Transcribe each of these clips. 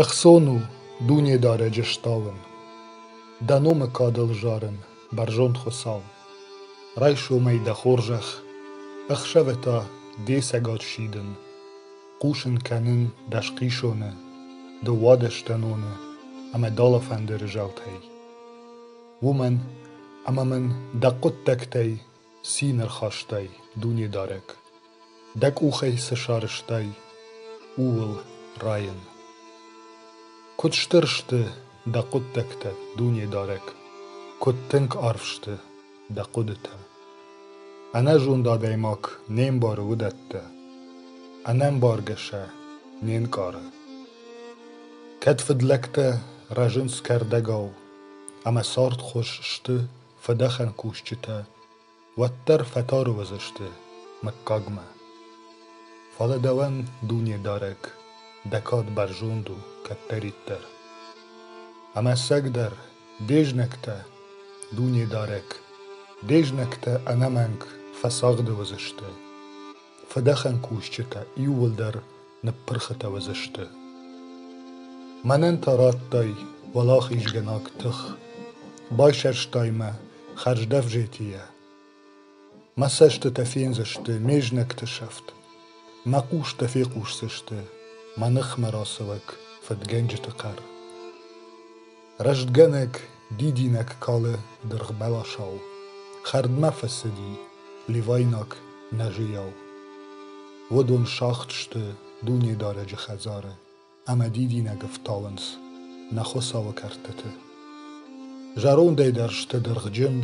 Ӕхцон у Дунедарӕджы стауын, Дӕ номы кадыл зарын, бӕрзонд Хуыцау. Райсом ӕй дӕ хорзӕх, ӕхсӕвы та де цӕгат сидын. Хъусын кӕнын дӕ схъисоны, ды уадӕ стӕноны ӕмӕ дӕлӕ фӕндыры зӕлтӕй. Уымӕн ӕмӕ мын дӕ хъуыддӕгтӕй Цин ӕрхастай, Дунедарӕг, Дӕ къухӕй цы сарызтай, ууыл райын. Куыд стыр сты дӕ хъуыддӕгтӕ, Дунедарӕг, Куыд тынг арф сты дӕ хъуыдытӕ. Ӕнӕзонд адӕймаг не мбары уыдӕттӕ, Ӕнӕмбаргӕ сӕ не нкъары. Кӕд фыдлӕгтӕ рӕзынц кӕрдӕгау, Ӕмӕ цардхуыз сты фыдӕхӕн кусджытӕ уӕддӕр фӕтӕрыуыдзысты мыггагмӕ. Фӕлӕ дӕуӕн, дунедарӕг, дӕ кад бӕрзонд у кӕддӕриддӕр. Ӕмӕцӕгдӕр, де знӕгтӕ, дунедарӕг, де знӕгтӕ ӕнӕмӕнг фӕцагъды уыдзысты. Фыдӕхӕн кусджытӕ иууылдӕр ныппырхытӕ уыдзысты. Мӕнӕн та радтай уӕлахизгӕнаг тых, байсӕрстай мӕ хӕрздӕвзетийӕ. Мӕ цӕстытӕ фендзысты ме знӕгты сӕфт, мӕ хъустӕ фехъусдзысты мӕ ныхмӕ рацӕуӕг фыдгӕнджыты хъӕр. Рӕстгӕнӕг дидинӕг калы дыргъбӕласау, Хӕрдмӕ фӕцыди левайнаг нӕзыйау. Уыдон сагъд сты Дунедарӕджы хӕдзары, ӕмӕ дидинӕг ӕфтауынц нӕ Хуыцауы кӕрдтыты. Зӕрондӕй дӕр сты дыргъджын,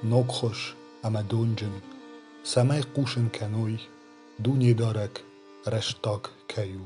ногхуыз ӕмӕ донджын, цӕмӕй хъусын кӕной, Дунедарӕг рӕстаг кӕй у.